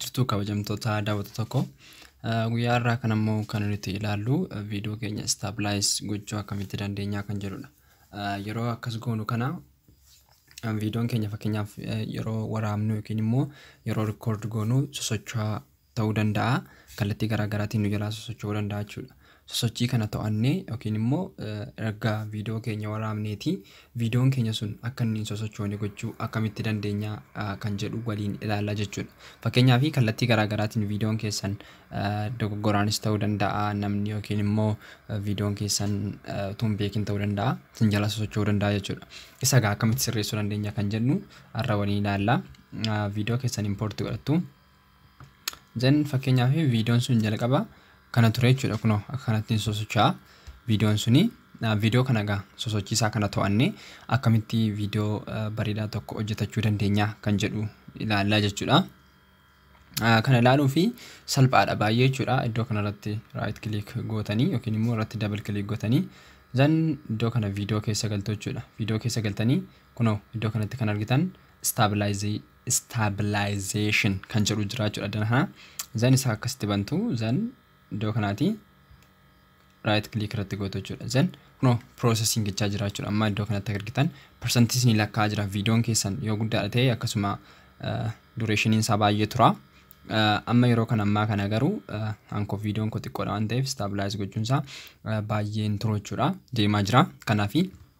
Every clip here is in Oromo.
jirtu kabajamtoota daawwata tokko guyyaa irraa kan ammoo kan nuti ilaallu viidiyoo keenya istaabilize gochuu akkamitti dandeenyaa kan jedhudha. Yeroo akkas goonu kana viidiyoon keenya fakkeenyaaf yeroo waraabnu yookiin immoo yeroo rikoord goonu sosocho'aa ta'uu danda'a. Kallattii garaa garaatiin nu jalaa sosocho'uu danda'a jechuudha. Sosochii kana to'annee yookiin immoo erga viidiyoo keenya waraabneetii viidiyoon keenya sun akka inni hin sosochoone gochuu akkamitti dandeenya kan jedhu waliin ilaalla jechuudha. Fakkeenyaaf kallattii garaa garaatiin viidiyoon keessan dogoggoraanis ta'uu danda'a namni yookiin immoo viidiyoon keessan utuu hin beekin ta'uu danda'a isin jalaa sosocho'uu danda'a jechuudha. Isa egaa akkamitti sirreessuu dandeenya kan jennu har'a waliin ilaalla. Viidiyoo keessan impoorti godhattu. Then fakkeenyaaf viidiyoon sun jalqaba kana ture jechuudha kunoo akka kanattiin sosocho'a viidiyoon suni viidiyoo kana egaa sosochiisaa kana to'annee akkamitti viidiyoo bareedaa tokko hojjetachuu dandeenya kan jedhu ilaallaa jechuudha. Kana ilaaluu fi salphaadha baay'ee jechuudha iddoo kanarratti raayit kiliik gootanii yookiin immoo irratti dabal kiliik gootanii zan iddoo kana viidiyoo keessa galtu jechuudha viidiyoo keessa galtanii kunoo iddoo kanatti kan argitan staabilaayizii stabilization kan jedhu jira jechuudha dan kana zan isaa akkasitti bantu zan iddoo kanaati right click irratti gootu jechuudha zan kuno processing jechaa jira jechuudha amma iddoo kanatti argitan percentis ni lakkaa jira viidiyoon keessan yoo guddaadha ta'e akkasuma dureshiniin isaa baay'ee tura amma yeroo kan ammaa kana garuu hanko viidiyoon koo xiqqoodha waan ta'eef stabilize gochuun isaa baay'ee hin turu jechuudha deemaa jira kanaafi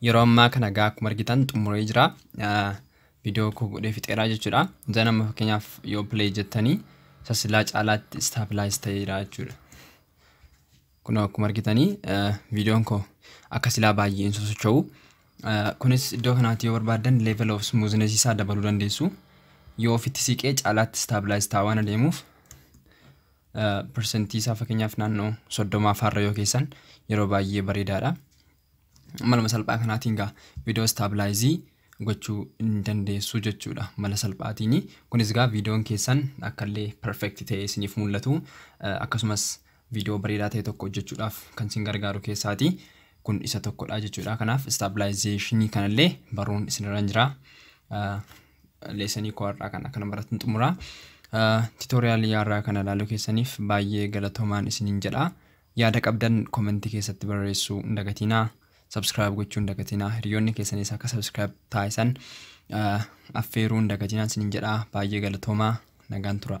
Yeroo ammaa kana egaa akkuma argitan xumuree jira. Viidiyoo koo godhee fixeeraa jechuudha. Zan amma fakkeenyaaf yoo play jettanii isa silaa caalaatti stabilize ta'eera jechuudha. Kun akkuma argitanii viidiyoon koo akka silaa baay'ee hin sosocho'u. Kunis iddoo kanaatti yoo barbaaddan level of smoothness isaa dabaluu dandeessu. Yoo ofitti siqee caalaatti stabilize ta'aa waan adeemuuf persentii isaa fakkeenyaaf naannoo soddomaa faarra yoo keessan yeroo baay'ee bareedaadha. maluma salphaa kanaatiin gaa viidiyoo istaablaayizii gochuu hin dandeessu jechuudha mala salphaatiin. Kunis gaa viidiyoon keessan akkallee perfect ta'ee isiniif mul'atu akkasumas viidiyoo bareedaa ta'e tokko hojjechuudhaaf kan isin gargaaru keessaati. Kun isa tokkodha jechuudha. Kanaaf istaablaayizeshinii kanallee baruun isinirra hin jira. Leesanii koo har'aa kana kana baratun xumura. Tiitooriyaalii har'aa kana ilaaluu keessaniif baay'ee galatoomaan isiniin jedha. Yaada qabdan comment keessatti barreessuu hin dagatiinaa. Subscribe gochuu hin dagatiinaa. Hiriyoonni keessanis akka subscribe taasisan affeeruu hin dagatiinaa isiniin jedha. Baay'ee galatoomaa. Nagaan turaa.